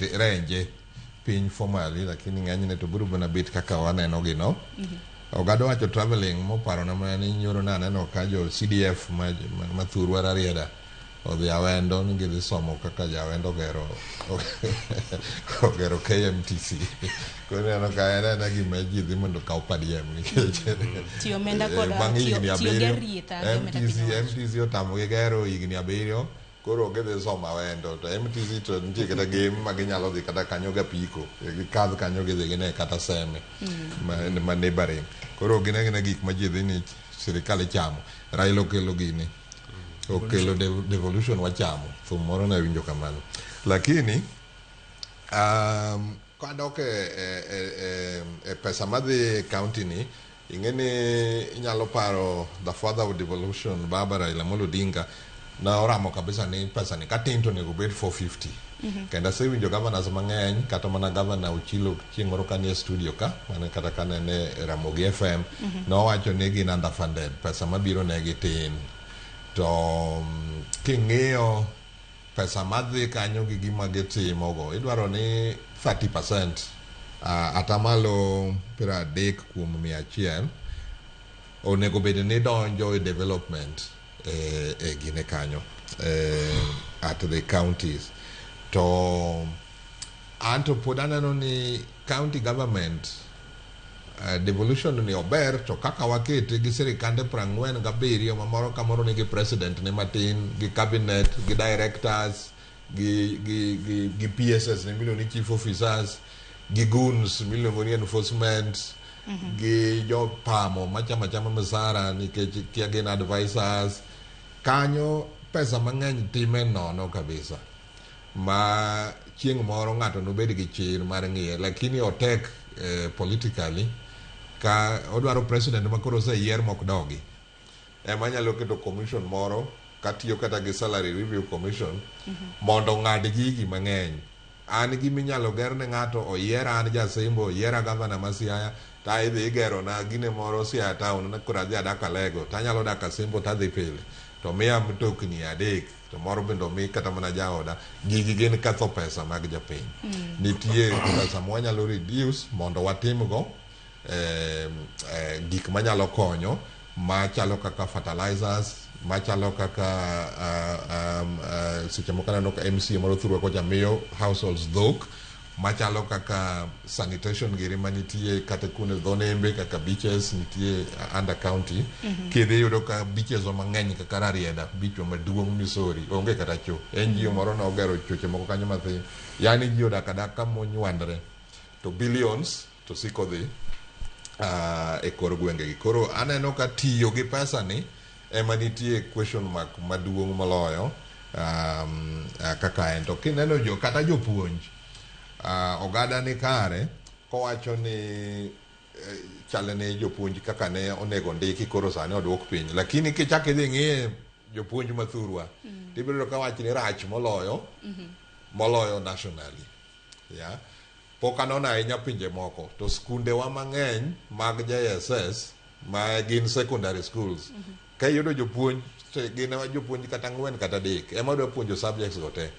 renje piny formally lakini ng'enyne to biro mana bit kaka waneno gi no mm-hmm. ogado wacho traveling moparo na mana ni nyoro na aneno ka jo cdf ma, ma, ma thurwa rarieda odhi awendo ni gidhi somo kaka jawendo ogero ogero kmtc koro neno ka en ena gima ji dhi mondo kaw padiem nikech bang' higni abiriyo mtc mtc otamogi gero higni abiriyo koro gidhi soma wendo to MTC to nitie kata gem ma ginyalo dhi kata kanyo ga piko gikadh kanyo gidhi gine kata seme mm. ma neighboring koro gine gine gik ma ji dhi ni sirikal ichamo Raila okelo gini mm. okelo devolution wachamo thum moro na winjo kamano lakini um, kadok e, e, e, e pesa madhi e county ni Ing'e ni inyalo paro the father of devolution Baba Raila Amolo Odinga na oramo kabisa ni pesa ni katin to onego obed 450. Mm -hmm. Kendo asewinjo governors mang'eny kata mana governor Ochilo chieng' moro kanie studio ka mane kata kane ne Ramogi FM mm -hmm. nowacho ni gin underfunded pesa mabiro negi tin to mm, king'iyo pesa madhi kanyo gi gima gitimogo idwaro ni 30 percent uh, atamalo piero adek kuom mia achiel onego bed ni donjo e development e, e gine kanyo e, at the counties to anto pod aneno ni County government uh, devolution ni ober to kaka wakete gi sirikande prang'wen gabiriyo ma moro ka moro nigi president ne matin gi cabinet gi directors gi, gi, gi, gi pss ne miluongo ni chief officers gi goons miluongo ni enforcement mm -hmm. gi jopamo machama chama misara nikech kia gin advisors kanyo pesa mang'eny time nono kabisa ma chieng' moro ng'ato nobed gi chir mar ng'iye lakini otek eh, politically ka odwaro president ma koro oseyier mok dogi ema nyalo keto commission moro katiyo kata gi salary review commission mondo ng'ad gigi mang'eny an gi minyalo ger ne ng'ato oyiera an jasembo oyiera gavana ma siaya ta idhi igero na gine moro siaya town na koro adhi adak alego tanyalo dak asembo tadhi pile to miya mtokni adek Samoro bende omi kata mana jaoda gigi gin ketho pesa mag japiny. Mm. Nitie pesa ma wanyalo reduce mondo watimgo eh, eh, gik manyalo konyo machalo kaka fertilizers machalo kaka uh, um, uh, seche moko aneno ka MCA moro thurwa kocha miyo households dhok machalo kaka sanitation giri manitie kata kuonde dho nembe kaka beaches nitie uh, under county mm -hmm. kidhi iyudo ka beaches wa mang'eny kaka rarieda beach wa maduong' misori onge kata cho en jiyo moro ne ogero choche moko kanyo mathin yani ji odak adaka monywandre to billions to siko dhi uh, e kor gwengegi koro aneno ka tiyo gi pesa ni ema nitie question mark maduong' moloyo um, uh, kaka en to kineno jo kata jopuonj uh, ogada ni kare kowacho ni eh, chale ne jopuonj kaka ne onego ndiki koro sani odwok piny lakini kichak idhi ng'iye jopuonj mathurwa mm. tibiro ka wach ni rach moloyo mm -hmm. moloyo nationally yeah? pok anona ahinya pinje moko to skundewa mang'eny mag jss ma gin secondary schools mm -hmm. ka iyudo jopuonj gin jopuonj kata ang'wen kata adek ema dwa puonjo subjects go te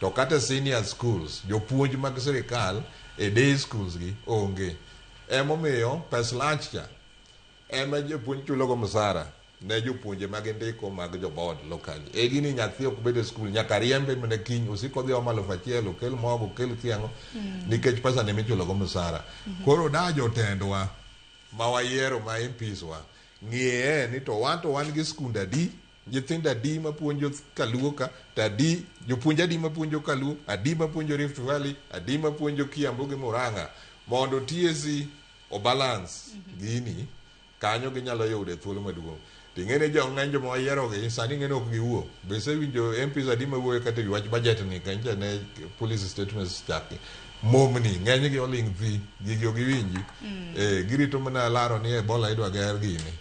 to kata senior schools jopuonj mag sirikal e day schools gi onge emomiyo pes lunch cha ema jopuonj chulogo msara ne jopuonje mag ndiko mag joboard local e gini nyathi ok bed e skul nyaka riembe mana kiny osik odhi omo alufu achiel okel mogo okel kiang'o mm. nikech pesa ne michulogo msara mm-hmm. koro da jotendwa mawayiero ma MPs wa ng'iye ni to wan to wan gi skund adi nyithindo adi mapuonjo kaluo ka to adi jopuonj adi mapuonjo kaluo adi mapuonjo Rift Valley adi mapuonjo Kiambu gi Murang'a mondo TSC obalance gini kanyo ginyalo yude thuolo maduong' To ing'e ni jo ng'eny joma wayierogi sani ing'e ni ok giwuo. Be isewinjo MPs adi ma wuoyo kata e wi wach budget ni kanyo ne policy statements chake. Momni ng'enygi oling' thi, gigi ok giwinji. Eh, girito mana laro ni Ebola idwa ger gini.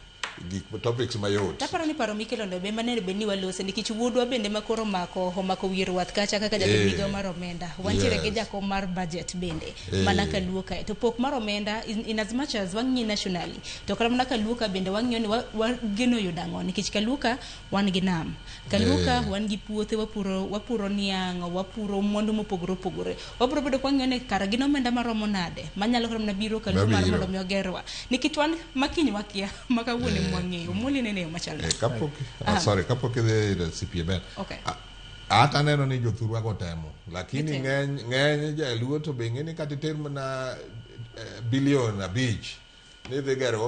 Gik topics mayot. Taparo ni paro mikelo no be mane bed ni walose nikech wuodwa bende ma koro omako omako wiye ruath kacha kaka jatend Eh. migawo mar omenda. Wantiere gi Yes. jakom mar budget bende Eh. mana ka luo kae. To pok mar omenda in, in as much as wang'iye nationally To kata mana Kaluka bende wang'iyo ni wa- wageno yudo ang'o nikech Kaluka wan gi nam. Kaluka Eh. wan gi puothe wapuro wapuro niang', wapuro mwandu mopogore opogore. Wabiro bedo kwang'iyo ni kara gin omenda maromo nade manyalo kata mana biro Kaluka mar Mabiro. mondo mi ogerwa. Nikech wan makiny wakia ma kawuono Eh. mwang'eyo. Mwoli nene yo machal Eh, nade. kapok ah, sorry kapok idhi ir CPML Okay. ah, At aneno ni jothurwa go temo lakini ng'eny ng'eny jaluo to be ng'eni kata iter mana eh, bilion abich ni dhi gero